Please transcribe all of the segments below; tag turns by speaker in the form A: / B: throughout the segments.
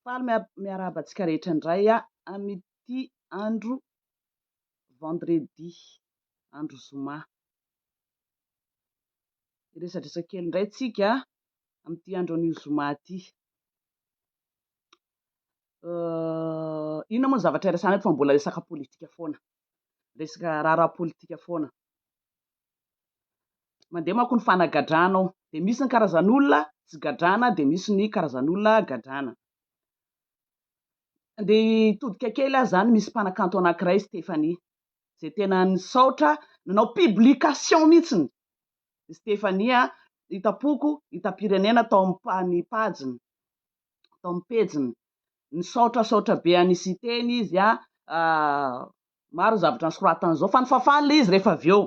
A: Faly miarahaba antsika rehetra indray amin'ity andro vendredi, andro zoma. Hiresadresa kely indray tsika amin'ity andro anio zoma ity. Inona moa ny zavatra iresahana eto fa mbola resaka politika foana, resaka raharaha politika foana. Mandeha manko ny fanagadrana ao, dia misy ny karazan'olona tsy gadrana, dia misy ny karazan'olona gadrana. Andeha hitodika kely aho izany, misy mpanakanto anankiray Stéphanie, izay tena nisaotra, nanao publication mihitsy, i Stephanie hitam-poko hitam-pirenena tao amin'ny pajiny, tao amin'ny pejiny. Nisaotrasaotra be an'i Siteny izy an, maro ny zavatra nosoratany izao fa nifafana ilay izy rehefa avy eo.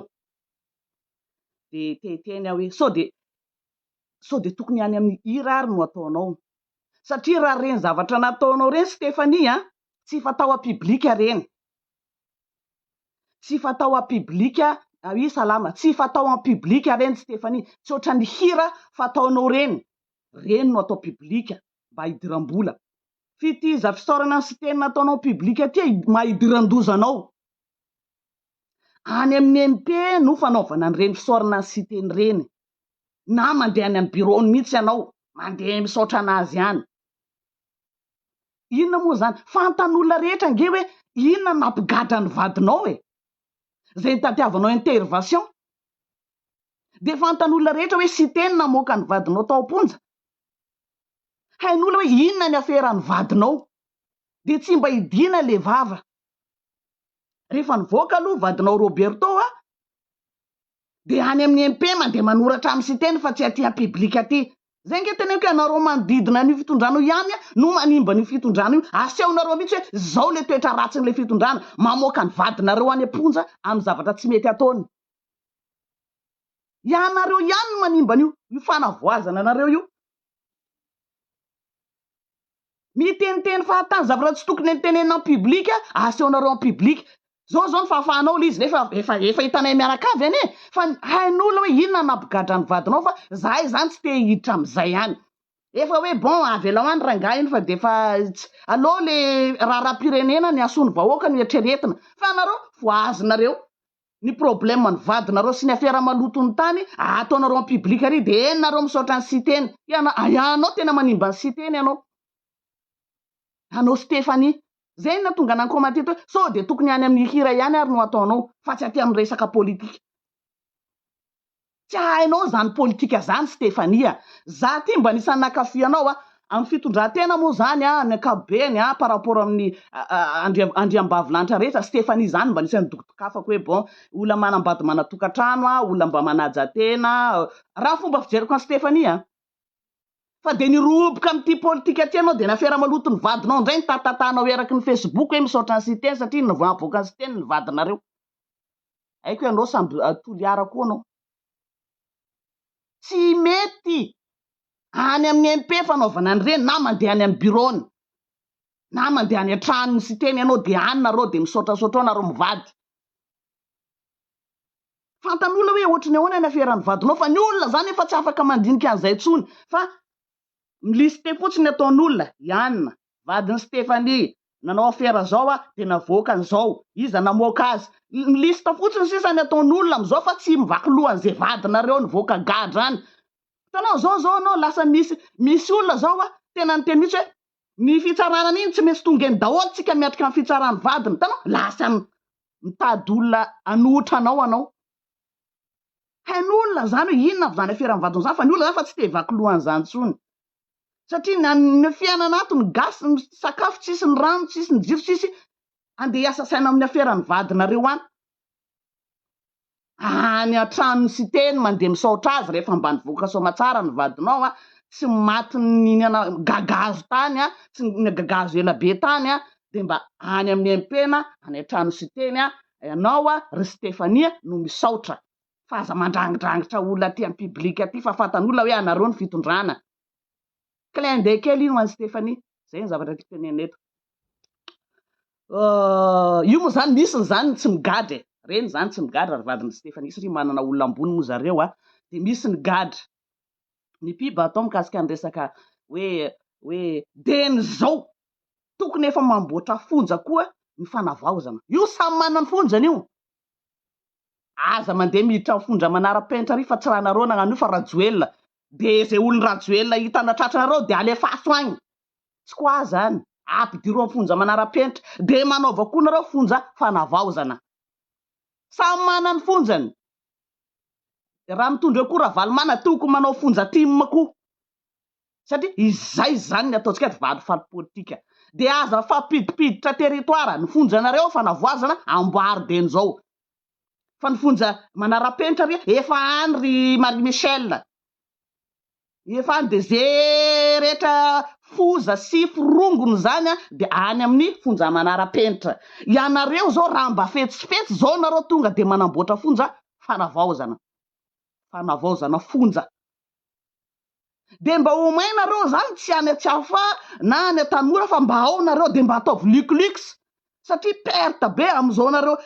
A: Dia te hiteny aho hoe sao dia sao dia tokony any amin'ny hira ary no ataonao. Satria raha ireny zavatra nataonao ireny Stephanie an, tsy efa tao an-pibilika ireny. Tsy fatao à public ry salama, tsy fatao en public reny Stephanie, tsy ohatran'ny hira fataonao reny, reny no atao public mba hidiram-bola. Fitiza fisaorana ny Siteny nataonao public aty e, maha hidiran-doza anao. Any amin'ny MP no fanaovana an'ireny fisaorana ny Siteny ireny, na mandeha any amin'ny bureau-ny mihitsy ianao, mandeha misaotra an'azy any. Inona moa izany? Fantan'olona rehetra ange hoe inona no nampigadra ny vadinao e! Izay nitadiavanao intervention. Dia fantan'olona rehetra hoe Siteny namoaka ny vadinao tao am-ponja. Hain'olona hoe inona ny afera ny vadinao. Dia tsy mba hidiana ilay vava. Rehefa nivoaka aloha vadinao Roberto a! dia any amin'ny MP mandeha manoratra amin'ny siteny fa tsy aty an-piblika aty. Izay ange teneniko ianareo manodidina an'io fitondrana io ihany no manimba an'io fitondrana io. Asehonareo mihitsy hoe izao ilay toetra ratsin'ilay fitondrana, mamoaka ny vadinareo any am-ponja amin'ny zavatra tsy mety ataony. Ianareo ihany no manimba an'io, io fanavoazana anareo io. Miteniteny fahatany zavatra tsy tokony nitenenina en public asehonareo en public Zao zao ny fahafahanao lzy nefa efa efa hitanay mianaka avy anie fa ny hain'olona hoe inona ny nampigadra ny vadinao fa zahay zany tsy te hiditra amizay any efa hoe bon avelao any rangahy iny fa de efa tsy aleo le raharaham-pirenena ny hasoan'ny vahoaka no eritreretina fa nareo voahazonareo ny problème ny vadinareo sy ny afera maloto ny tany ataonareo en public ary de eny nareo misaotra ny siteny iana ianao tena manimba ny siteny ianao anao Stephanie zay no natonga nan commenter eto hoe sao de tokony any amin'ny hira ihany ary no ataonao fa tsy aty amin'ny resaka politique. Tsy hainao zany politika zany Stephanie a! Za ty mba anisan'ny nankafy anao a! Amin'ny fitondran-tena moa zany a, ny ankapobeny a, par rapport amin'ny Andriam, Andriambavilanitra rehetra, Stephanie zany mba anisan'ny dokotokafako hoe bon, olona manambady manatokantrano a, olona mba manaja tena, raha fomba fijeriko an'i Stephanie a! Fa de nirohoboka amin'ity politika ty ianao de nafera maloto ny vadinao indray nitatatanao eraky ny Facebook hoe misaotra an'i Siteny satria nivahavoaka an'i Siteny ny vadinareo. Haiko ianao samby Toliara koa anao. Tsy mety any amin'ny MP fanaovana an'ireny na mandeha any amin'ny bureau-ny na mandeha any an-tranon'i Siteny ianao dia any nareo dia misaotrasaotra ao nareo mivady. Fantan'olona hoe ohatry ny ahoana ny aferan'ny vadinao fa ny olona izany efa tsy afaka mandinika an'izay intsony fa mi-lister fotsiny ny ataon'olona i Anna. vadin'i Stephanie, nanao afera zao a, dia navoakany zao, iza namoaka azy? ny liste fotsiny sisa ny ataon'olona amzao fa tsy mivaky lohan'izay vadinareo nivoaka gadra any, hitanao zao zao anao lasa misy misy olona zao a, tena niteny mihitsy hoe ny fitsarana an'iny tsy maintsy tonga eny daholo tsika miatrika ny fitsaran'ny vadiny, hitanao lasa mitady olona hanohitra anao anao, hain'olona zany hoe inona avy zany aferan'ny vadiny zany fa ny olona zany efa tsy te hivaky lohany zany tsony, satria nanome fiainana ato ny gasy ny sakafo tsisy ny rano tsisy ny jiro tsisy andeha hiasa saina amin'ny afera ny vadinareo any any an-tranony site ny mandeha misaotra azy rehefa mba nivoaka soamatsara ny vadinao an tsy maty nihinana gagazo tany an tsy nihinana gagazo ela be tany an dia mba any amin'ny MPna any an-trano siteny an ianao an ry Stefania no misaotra fa aza mandrangidrangitra olona aty am public aty fa fantan'olona hoe anareo ny fitondrana. Clin d'oeil kely iny ho an'i Stéphanie. Zay ny zavatra tiako tenenina eto. Euh, io moa zany misy ny zany ny tsy migadra e. Reny zany tsy migadra ry vadin'i Stéphanie satria manana olona ambony moa zareo a. Dia misy ny gadra. Ny pub atao mikasika ny resaka hoe hoe DN zao. Tokony efa mamboatra fonja koa ny fanavaozana. Io samy manana ny fonjany io. Aza mandeha miditra mifondra manarapenitra ry fa tsy ranareo nagnan'io fa rajoelina de ze olon rajoelina hitana tratranareo de alefaso agny tsy ko aza any apidiro amfonja manarapenitra de manaova ko nareo fonja fanavaozana samy manany fonjany de raha mitondra ko ravalomanana tokony manao fonja tim ko satria izay izany ny ataontsika aty valifaty politika. Dia aza mifampidipiditra territoire, ny fonjanareo efa navoazana amboary be an'izao. Fa ny fonja manarapenitra re efa any ry Marie Michel. Efa any dia ze rehetra foza sy forongony izany dia any amin'ny fonja manarapenitra. Ianareo izao raha mba fetsifetsy izao nareo tonga dia manamboatra fonja fanavaozana. Fanavaozana fonja. de mba omay nareo zany tsy any atsiafa na any atanora fa mba ao nareo de mba ataovy luc lux satria perte be amizao nareo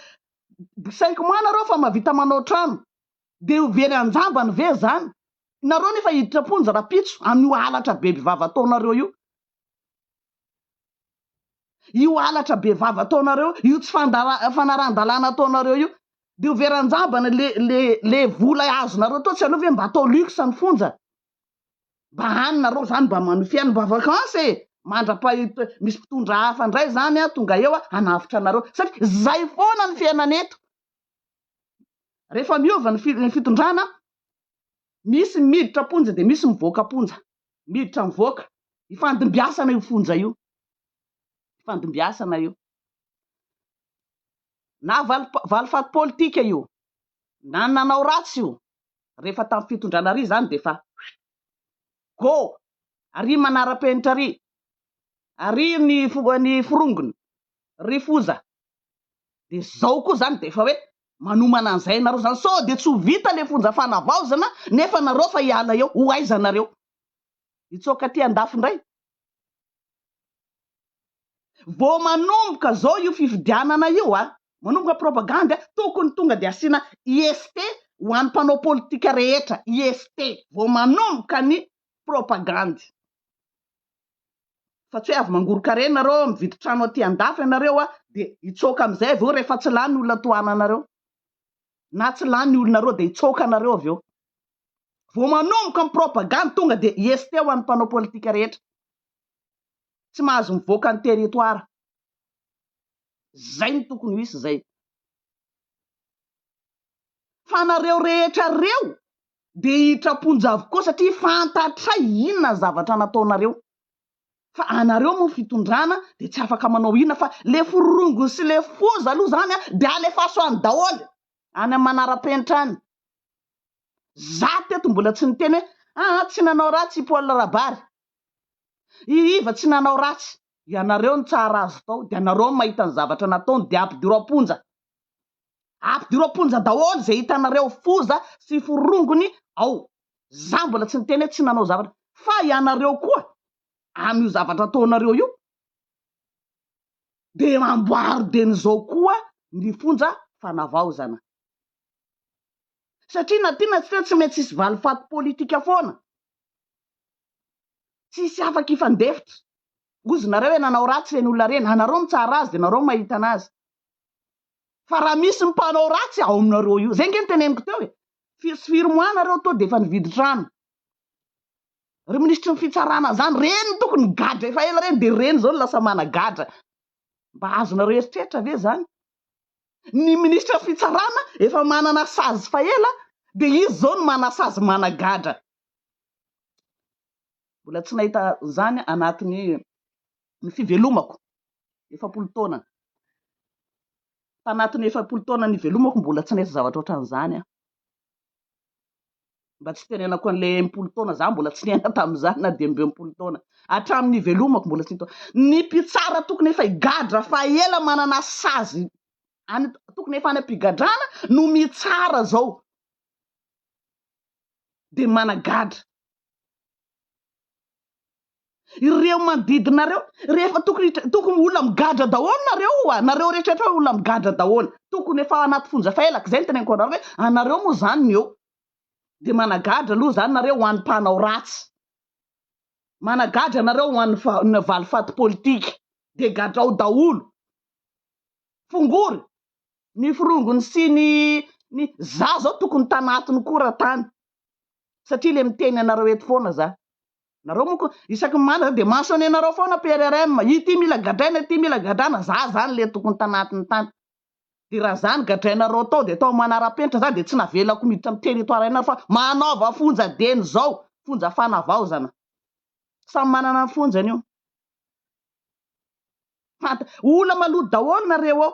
A: cinq mois nareo fa mavita manao trano de ho very anjambany ve zany nareo nefa hiditra am-ponja rapitso anio halatra be bivava ataonareo io io halatra be vava ataonareo io tsy fanarahan-dalàna ataonareo io dia ho very an-jabany le le le vola azonareo tao tsy aleo ve mba atao luxe ny fonja mba any nareo zany mba manohy fiainana mba vacances e mandra-pahita misy mpitondra hafa indray zany a tonga eo a hanavotra anareo satria zay foana ny fiainana eto rehefa miova ny fitondrana misy miditra am-ponja dia misy mivoaka am-ponja miditra mivoaka ifandimbiasana io fonja io ifandimbiasana io na valifaty politika io na ny nanao ratsy io rehefa tamin'ny fitondrana ary izany dia efa go ary manara-penitra ary ary ny ny forongony ry foza dia zao koa izany dia efa hoe Manomana an'izay ianareo izany sao dia tsy ho vita ilay fonja fanavaozana nefa nareo fa hiala eo, ho aiza nareo? Hitsoaka aty andafy indray? Vao manomboka izao io fifidianana io a! Manomboka propagandy a! Tokony tonga dia asiana IST ho an'ny mpanao politika rehetra, IST, vao manomboka ny propagandy. fa tsy hoe avy mangoron-karena reo mividy trano aty andafy ianareo a dia hitsoaka amizay avy eo rehefa tsy lany olona tohananareo na tsy lany olona reo dia hitsoaka anareo avy eo vao manomboka ny propagande tonga dia hieste ho an'ny mpanao politika rehetra tsy mahazo mivoaka ny territoire zay ny tokony ho isy zay fa anareo rehetra reo Dia hitraponja avokoa satria fantatray inona ny zavatra nataonareo. Fa anareo moa fitondrana dia tsy afaka manao inona fa le forongony sy le foza aloha zany dia alefaso any daholo any am manarapenitra any. Za teto mbola tsy niteny hoe aa tsy nanao ratsy i Paul Rabary. I Iva tsy nanao ratsy. Ianareo no tsara azy tao dia ianareo no mahita ny zavatra nataony dia ampidiro am-ponja. Ampidiro am-ponja daholo izay hitanareo foza sy forongony ao. Za mbola tsy niteny hoe tsy nanao zavatra fa ianareo koa amin'io zavatra ataonareo io de amboaro deny zao koa ny fonja fanavaozana. Satria na tia na tsy tia tsy maintsy hisy valifaty politika foana. Tsy hisy afaka hifandefitra. Ozy nareo hoe nanao ratsy ireny olona ireny. Anareo mitsara azy de nareo mahita anazy. fa raha misy ny mpanao ratsy ao aminareo io, zay nge ny teneniko teo e, firy sy firy mois nareo to defa nividy trano, ry minisitry ny fitsarana zany, reny no tokony gadra efa ela reny, de reny zao no lasa managadra, mba azonareo eritreritra ve zany, ny minisitra fitsarana efa manana sazy fa ela de izy zao no manasazy managadra, mbola tsy nahita zany anatiny ny fivelomako. efapolo taona. Tanatin'ny efapolo taona nivelomako mbola tsy nisy zavatra ohatran'izany aho. Mba tsy tenenako an'ilay enimpolo taona, za mbola tsy niaina tamin'izany na dia mby enimpolo taona. Hatramin'ny nivelomako mbola tsy nitaona. Ny mpitsara tokony efa higadra fa ela manana sazy any tokony efa any am-pigadrana no mitsara izao. Dia managadra. ireo manodidina reo rehefa tokony tokony olona migadra daholo nareo oa nareo rehetraretra hoe olona migadra daholo tokony efa anaty fonja faelaka izay ny teneniko anareo hoe anareo moa zany ny eo de managadra aloha zany nareo ho an'ny mpanao ratsy managadra nareo ho an'ny fa ny valifaty politika de gadrao daholo fongory ny forongony sy ny ny za zao tokony tanatiny koa raha tany satria le miteny anareo eto foana za Nareo moa ko isaky ny mandra de maso any anareo foana PRRM ity mila gadraina ity mila gadrana za zany le tokony tanatiny tany de raha zany gadrainareo tao de tao manarapenitra za de tsy navelako miditra am territoire anareo fa manaova fonja deny zao fonja fanavaozana samy manana ny fonjany io fanta ola maloto daholo nareo ao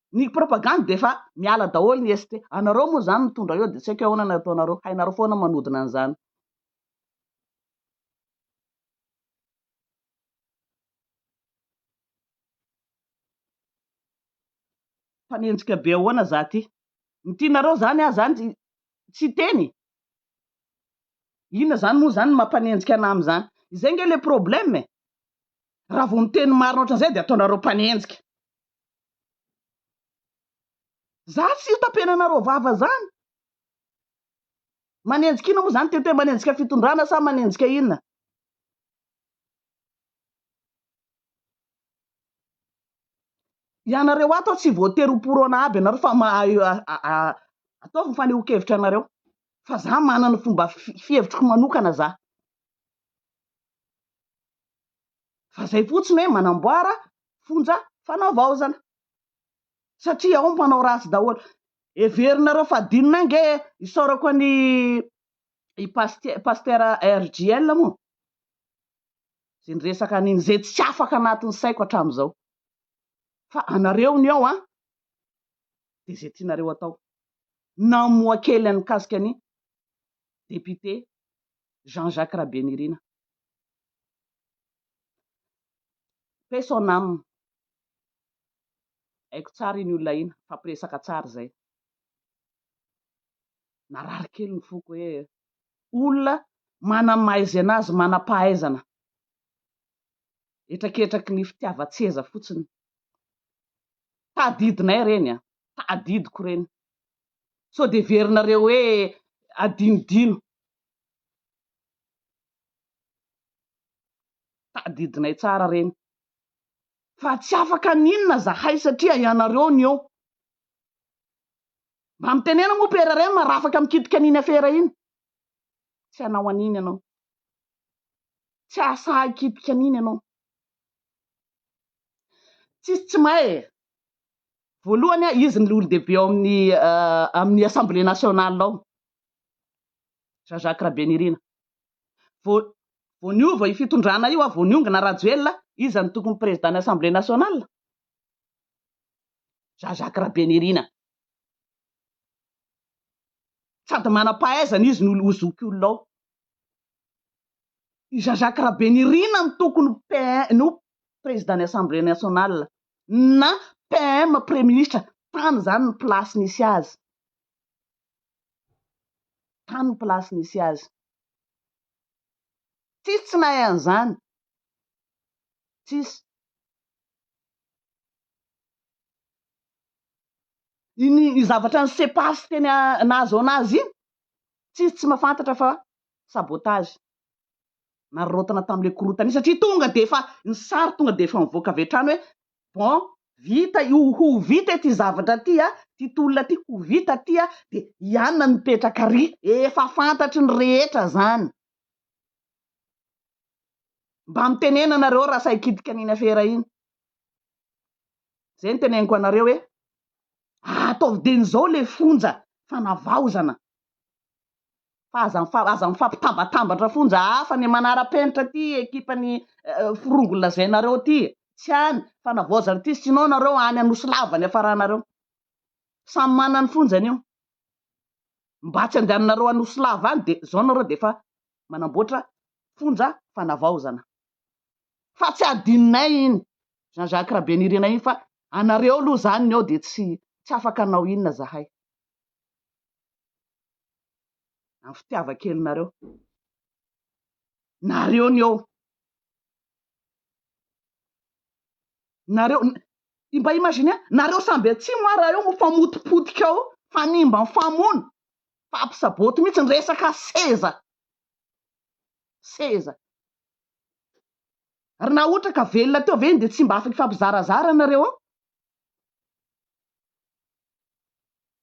A: Ny propagande dia efa miala daholo ny ST. Anareo moa izany mitondra eo dia tsy haiko ahoana ny ataonareo. Hainareo foana manodina an'izany. Mpanenjika be ahoana za ty. Ny tianareo izany aho izany tsy hiteny. Inona izany moa izany ny maha mpanenjika anà amin'izany. Izay ange ilay problème e. Raha vao miteny marina ohatran'izay dia ataonareo mpanenjika. Zany tsy io tapenanareo vava zany? Manenjika inona moa zany TT, manenjika fitondrana sa manenjika inona? Ianareo ato tsy voatery ho porona aby ianareo fa mahay ataovy ny fanehoan-kevitra anareo fa za manana fomba fihevitriko manokana za. fa zay fotsiny hoe manamboara fonja fanavaozana satria ao mpanao ratsy daholo, heverinareo fa adinony any nge isaorako an'i i pasty pastera RJL moa zay niresaka an'iny zay tsy afaka anatin'ny saiko hatram'izao fa anareo ny ao an de zay tianareo atao namoha kely an'ny mikasika an'i député Jean Jacques Rabenirina Paix son âme. Haiko tsara iny olona iny, nifampiresaka tsara izay. Narary kely ny foko hoe olona manana ny maha-izy azy, manam-pahaizana, hetraketraky ny fitiavan-tseza fotsiny. Tadidinay ireny an, tadidiko ireny. Sao dia heverinareo hoe adinodino. Tadidinay tsara ireny fa tsy afaka ny inona zahay satria ianareo ny eo. Mba mitenena moa père Rem raha afaka mikitika an'iny afera iny. Tsy hanao an'iny ianao. Tsy hahasahy hikitika an'iny ianao. Tsisy tsy mahay e. Voalohany izy ny olon-dehibe ao amin'ny euh, amin'ny assemblée nationale ao. Jean-Jacques Rabenirina. Vao, vao niova io fitondrana io, vao niongona Rajoelina, iza no tokony président ny Assemblée nationale? Jean-Jacques Rabenirina. Sady manam-pahaizana izy no ho zoky olona ao. I Jean-Jacques Rabenirina no tokony PM, no président ny Assemblée nationale, na PM, Praiminisitra, tany izany ny place nisy azy. tany ny place nisy azy. Tsisy tsy nahay an'izany, tsisy. Iny iny zavatra an'i Sepas teny nahazaona azy iny, tsisy tsy mahafantatra fa sabotage, nararaotina tamin'ilay korontana iny satria tonga dia efa, ny sary tonga dia efa nivoaka avy hatrany hoe bon vita io ho vita ity zavatra ity a, ity tolona ity ho vita ity a, de ianona no mipetraka ary, efa fantatry ny rehetra zany, mba mitenena nareo raha sahy kitika an'iny afera iny, zay no teneniko anareo hoe ataovy dieny zao le fonja fanavaozana fa aza aza mifampitambatambatra fonja hafa ny manara-penitra ity ekipan'ny forongo lazainareo ity e! tsy any fanavaozana ity sinon nareo any anosilava ny afaranareo samy manana ny fonjany io mba tsy andehananareo anosilava any dia zao nareo dia efa manamboatra fonja fanavaozana fa tsy adinonay iny Jean Jacques Rabenirina iny fa anareo aloha zany ny ao dia tsy tsy afaka anao inona zahay Ny fitiavan-kelinareo. Nareo ny eo. Nareo, mba imaginez, nareo samby atsimo ary raha eo mifamotipotika ao, mifanimba mifamono, mifampisaboty mihitsy ny resaka seza. Seza. Ary na ohatra ka velona teo ve iny dia tsy mba afaka hifampizarazara nareo ao?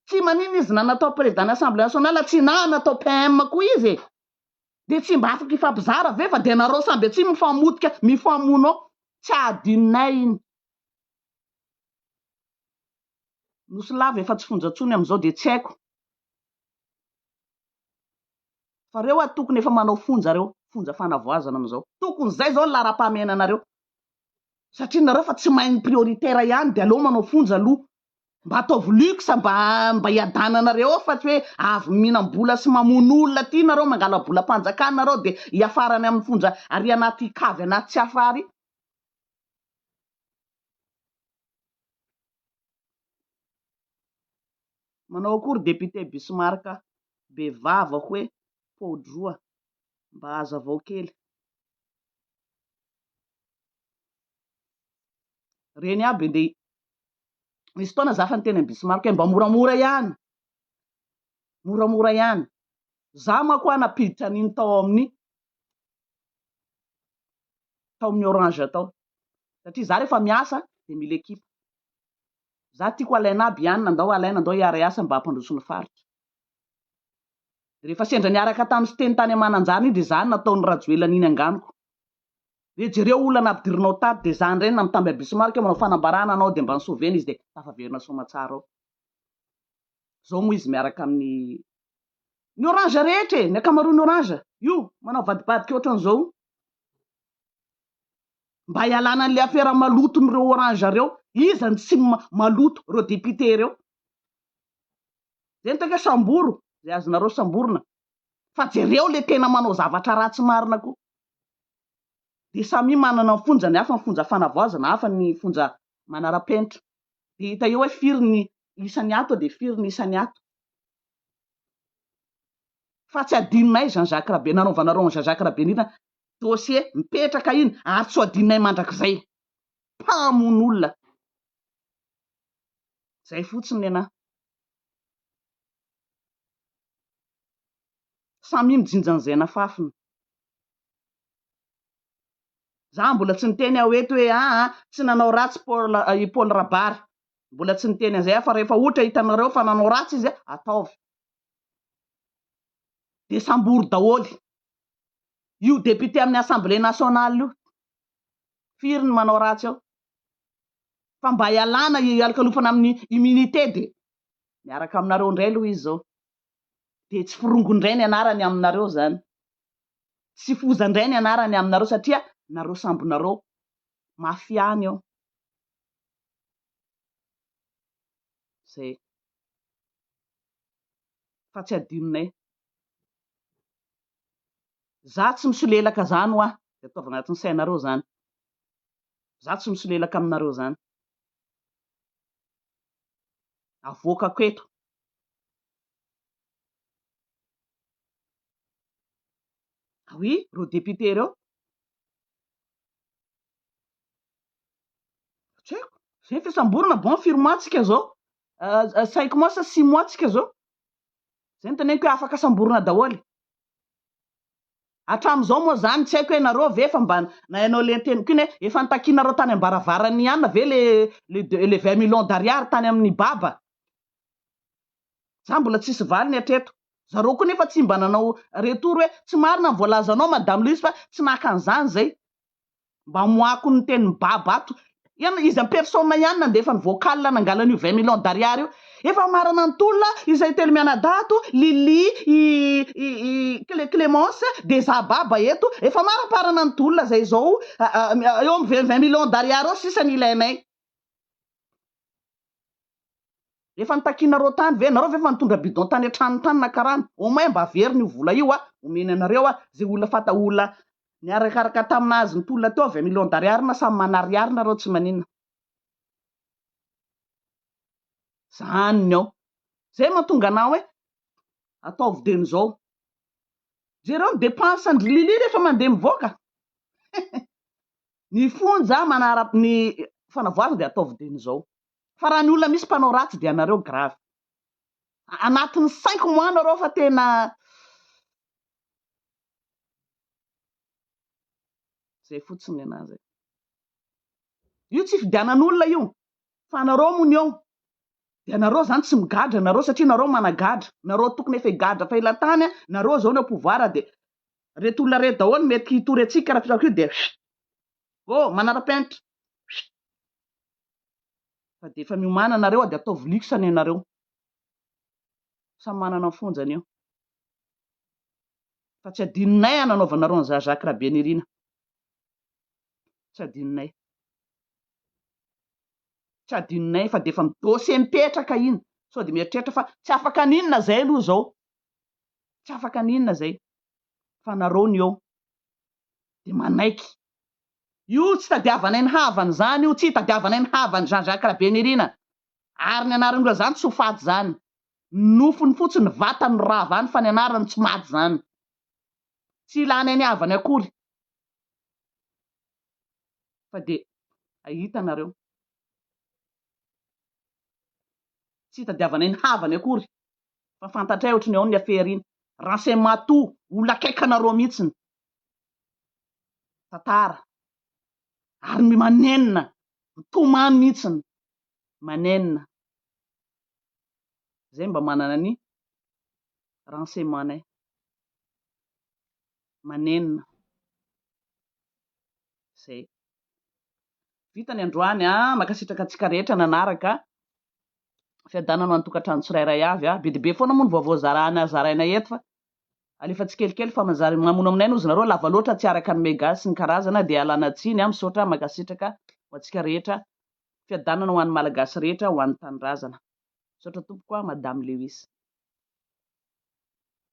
A: Tsy maninona izy na natao président ny assemblée nationale tsy na natao PM koa izy e! Dia tsy mba afaka hifampizara ve fa dia nareo samby atsimo mifamotika mifamono ao. Tsy adinonay iny. Nosy lava efa tsy fonja intsony amin'izao dia tsy haiko fa reo ary tokony efa manao fonja reo, fonja fanavoazana amin'izao. Tokony izay izao ny laharam-pahamehana anareo satria nareo efa tsy mahay ny prioritaire ihany dia aleo manao fonja aloha Mba ataovy luxe mba mba hiadananareo ao fa tsy hoe avy mihinam-bola sy mamono olona aty nareo mangala bolam-panjakana nareo dia hiafara any amin'ny fonja ary anaty kavy anaty tsy afra ary Manao akory député Bismarck be vava hoe poudroa mba hazavao kely. Reny aby ndeha Nisy fotoana za efa niteny an'i Bismarck hoe mba moramora ihany, moramora ihany. Za manko aho nampiditra an'iny tao amin'ny tao amin'ny orange tao. Satria za rehefa miasa dia mila ekipa. Za tiako alaina aby ihany, nandao alaina, andao hiara-hiasa mba hampandroso ny faritra. Rehefa sendra niaraka tamin'i Siteny tany Mananjary iny dia zany nataon'i Rajoelina an'iny anganoko. Dia jereo olona nampidirinao tato dia zany reny namitamby an bismarck manao fanambarana anao dia mba nisovena izy dia tafaverina soamatsara ao. Zao moa izy miaraka amin'ny ny orange rehetra e, ny akamaroan'ny orange io manao vadibadika ohatran'izao io. Mba hialana an'ilay afera maloton'ireo orange reo, iza no tsy maloto, reo député reo. Zay no tena samboro, zay azonareo samborina. Fa jereo le tena manao zavatra ratsy marina koa. dia samia manana ny fonjany hafa, ny fonja fanavaozana, hafa ny fonja manara-penitra. Dia hita eo hoe firy ny isan'ny ato dia firy ny isan'ny ato. Fa tsy hadinonay izany Jacques Rabe, nanaovanareo an'i Jean Jacques Rabenina dossier mipetraka iny ary tsy ho hadinonay mandrakizay. Mpamono olona. Izay fotsiny nenah. Samia mijinja an'izay nafafiny. Za mbola tsy niteny aho eto hoe aa tsy nanao ratsy Paul i Paul Rabary. Mbola tsy niteny an'izay aho fa rehefa ohatra hitanareo fa nanao ratsy izy a, ataovy. Dia sambory daholo. Io député amin'ny assemblée nationale io. Firy ny manao ratsy ao. Fa mba ialana ialokalofana amin'ny immunité dia miaraka aminareo indray aloha izy zao. dia tsy forongo indray ny anarany aminareo izany. Tsy foza indray ny anarany aminareo satria nareo sambonareo mafy any ao. Zay. Fa tsy adinonay. Za tsy misolelaka zany hoa, de ataovy agnatin'ny sainareo zany. Za tsy misolelaka aminareo zany. Avoakako eto. Ah oui, ireo députés ireo. Tsy haiko, zay ny fisamborana, bon firy mois tsika zao? cinq mois sa six mois tsika zao? Zay ny teneniko hoe afaka samborina daholo. Hatramin'izao moa zany tsy haiko hoe nareo ve efa mba nainao le teniko iny hoe efa nitakianareo tany ambaravaran'ny ihany ve le le 20 millions d'ariary tany amin'ny baba? Za mbola tsisy valiny hatreto. Zareo koa nefa tsy mba nanao retour hoe tsy marina ny voalazanao madame Louise fa tsy naka an'izany zay. Mba amoahako ny tenin'i Baba ato. Ian, izy en personne ihany nandefa ny vocal nangala an'io vingt millions d'ariary io. Efa marana ny tolona, izay telo mianadahy ato, Lily, i, i, i Clé, Clémence, dia za Baba eto. Efa maramparana ny tolona zay izao, eo amin'ny vingt, vingt millions d'ariary eo sisa ny ilainay. Efa nitakianareo tany ve? Nareo ve efa nitondra bidon tany an-tranony tany naka rano? Au moins mba averiny io vola io a! Omeny anareo a! Zay olona fata olona niarakaraka tamina azy nitolona teo avy a million d'ariary na samy manariary nareo tsy maninona. Zany ny ao. Zay mahatonga anah hoe ataovy dieny zao. Jereo ny depense an-dry Lily rehefa mandeha mivoaka. Ny fonja manara ny fanavoazana dia ataovy dia ny zao fa raha ny olona misy mpanao ratsy dia anareo grave anatiny cinq mois nareo fa tena zay fotsiny ny anazy e. io tsy fidianan'olona io fa anareo moa ny eo dia anareo zany tsy migadra nareo satria nareo managadra nareo tokony efa higadra fa ela tany nareo zao ny ao pouvoir dia reto olona reto daholo mety hitory antsika raha filaoka io dia huit ô manarapenitra huit fa dia efa miomana nareo a dia ataovy luxe anie nareo samy manana ny fonjany eo fa tsy adinonay an anaovanareo an'i za Jacques Rabenirina tsy adinonay tsy adinonay fa dia efa midose mipetraka iny sao dia mieritreritra fa tsy afaka n'inona zay aloha zao tsy afaka ny inona zay fa nareo ny eo de manaiky io tsy tadiavanay ny havany zany io tsy itadiavanay ny havany Jean Jacques Rabenirina ary ny anarany loha zany tsy ho faty zany ny nofony fotsiny ny vatany no rava any fa ny anarany tsy maty zany tsy ilanay ny havany akory fa de ahita nareo tsy itadiavanay ny havany akory fa fantatray ohatry ny ao ny affaire iny, Rancé Matou, olona akaiky anareo mihitsy ny tantara, ary ny manenina, mitomany mihitsy ny manenina, zay mba manana ny renseignements nay, manenina, zay. Vita ny androany an! Mankasitraka antsika rehetra nanaraka fiadanana ho an'ny tokantrano tsirairay avy a. Be dia be foana moa ny vaovao zarana zaraina eto fa alefa tsikelikely fa mazary mamono aminay no izy nareo lava loatra tsy araka ny mega sy ny karazana dia alana tsiny a misaotra mankasitraka ho antsika rehetra fiadanana ho an'ny malagasy rehetra ho an'ny tanindrazana misaotra tompoko a madame lewis